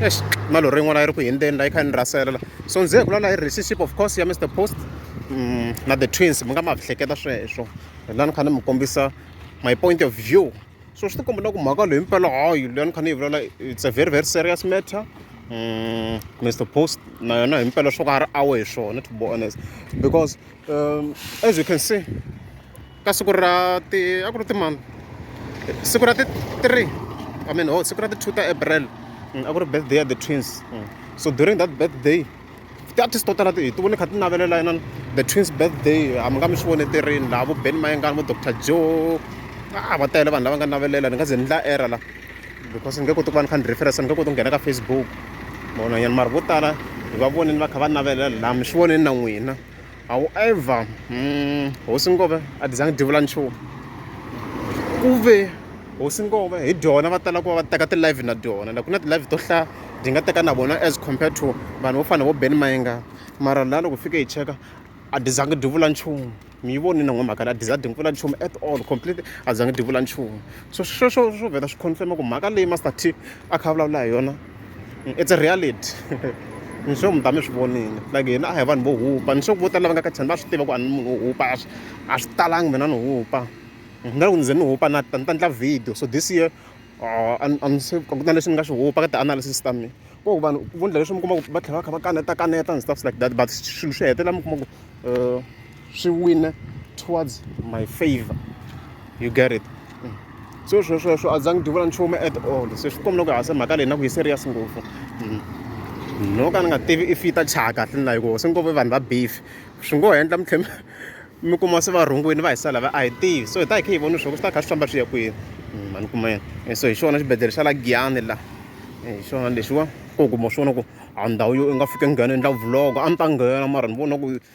Eish, malori yin'wana yi ri ku hindzeni la yi kha ni rasela la so ndzi vula la yi relationship of course ya mr post mm, na the twins mi nga ma hleketa sweswo la ni kha ni mi kombisa my point of view so swi tikomba na ku mhaka leyi mpela hayi leyi ni kha ni yi vulela it's a very very serious matter mm, mr post na yona hi mpela swo ka a ri awe hi swona to be honest because um, as you can see ka siku ra ti a ku ri timani siku ra ti three i mean oh siku ra ti two ta april mm, a ku ri birthday ya the twins mm. so during that birthday ti-artist to tala hi ti vone kha ti navelela inani the twins birthday a mi nga mi swi vone ti rini laha vo ben mayengani vo doctor joe a va tele vanhu lava nga navelela ni nga ze ni la era la because ni nge koti ku va ni kha ni reference ni nge koti ku nghena ka facebook vonanyana mara vo tala hi va vonini va kha va navelela laha mi swi voneni na n'wina However, mm, hosi Ngove a ti zangi ti vula nchumu ku ve hosi Ngove hi dyona va tala ku va va teka ti-live na dyona like ku na ti-live to hlaya hi nga teka na vona as compared to vanhu vo fana vo ben mayenga mara laha loko fike hi cheka a ti zangi ti vula nchumu mi yi vonile n'wamhaka leyi a ti za ti vula nchumu at all completely a ti zangi ti vula nchumu so sweswo swo vheta swi confirm-a ku mhaka leyi master t a kha a vulavula hi yona it's a reality ni sure mi ta mi swi vonile like hina a hi vanhu vo hupa ni sure vo tala lava nga ka chani va swi tiva ku a ni munhu wo hupa a swi a swi talangi mina ni hupa na loko ni ze ni hupa na ta ni ta ndla video so this year uh, a ni se ku na leswi ni nga swi hupa ka ti-analysis ta mina ko vanhu vo ndla leswi mi kuma ku va tlhela va kha va kaneta kaneta and stuff like that but swilo swi hetelela mi kuma ku um swi wina towards my favor you get it mm. so swo sweswo a za ngi duvula nchumu at all se swi kombela ku hasa mhaka leyi na ku yi serious ngopfu mm. no ka ni nga tivi if yi ta chaya kahle ni layi ku se ngopfu vanhu va beef swi ngo endla mi tlhe mi kuma se va rhungwini va hi sala va a hi tivi so hi ta hi khe hi voni swo ku swi ta kha swi famba swi ya kwini mm, mani kuma yena eh, so hi xona xibedhlele xa la giyani la eh, hi xona lexiwa ku kuma swona ku a ndhawu yo i nga fike nghena endla vlog a ni ta nghena mara ni vona ku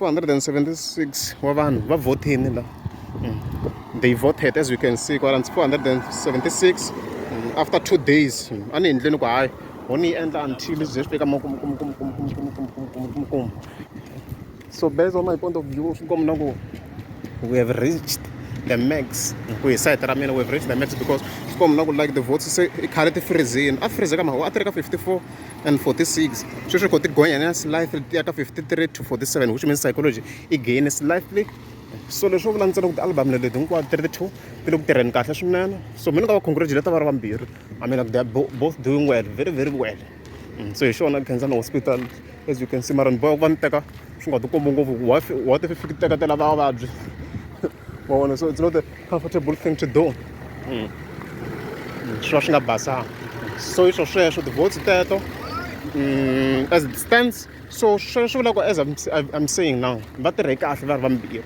476 wa vanhu va vhotini la mm. they voted as we can see kwala 476 mm, after two days mm. a ni endleni ku hayi ho ni yi endla until ze swi fika makumkumkumkumkumkumkumkumkum so based on my point of view swi kombi na ku we have reached the max ku hi site ra mina we have reached the max because swi kombi na ku like the votes se i khale ti freezini a freeze ka maho a ti ri ka 54 and 46 sweswi kho ti gonya na slightly ti ya ka 53 to 47 which means psychology i gain slightly so leswo vula ntsena ku ti-album leti hinkwato ti ri ti-two ti le ku tirheni kahle swinene so mina ka va congratulate va ri vambirhi i mean like they are both doing well very very well mm, so hi xona khensana hospital as you can see mara ni boya ku va ni teka swi nga ti kombi ngopfu wa ti fiki teketela vavabyi wa vona so it's not comfortable thing to do mm. swi va swi nga basanga so iswo sweswo ti-votes teto mm, as it stands so sweswo swi vula ku as I'm, I'm saying now va tirhe kahle va ri vambirhi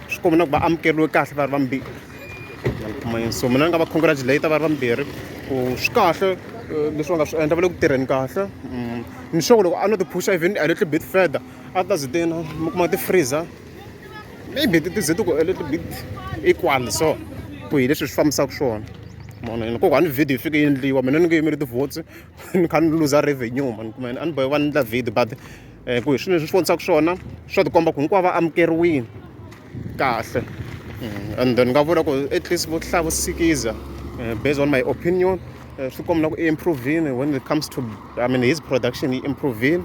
swi komba na ku va amukeriwe kahle va ri vambirhi so mina ni nga va congratulate va ri vambirhi ku swi kahle eh, leswi va nga swi endla va le ku tirheni kahle mm, ni sure loko a no ti-pusha even a little bit further a ta zi tena mi kuma ti-freezer maybe ti ze ti ku a little bit equal so ku hi leswi swi fambisaka swona mona yini kokwani ni video yi fike yi endliwa mina ni nge yimeli ti-votes ni kha ni luza revenue mani kuma yini a ni bohe va ni endla video but um ku hi swilo leswi swi vonisaka swona swa tikomba ku hinkwavo va amukeriwile kahle mm, and then ni nga vula ku at least vo hlaya vo sikiza eh, based on my opinion eh, swi komba na ku i improvini when it comes to i mean his production yi improvini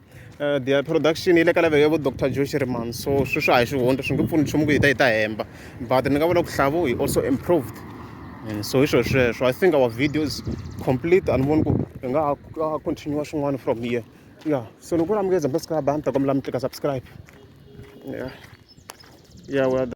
Eh, the production yi le ka level ya vo dr josh riman so sweswi a hi swihonto swi nge pfuni nchumu ku yi ta yi ta hemba but ni nga vula ku hlavu hi also improved and so hi swilo sweswo i think our video is complete and voni ku hi nga ha continue swin'wana from here yeah so ni ku lamukeza mbasika abantu ta kombela mi tlika subscribe yeah yeah well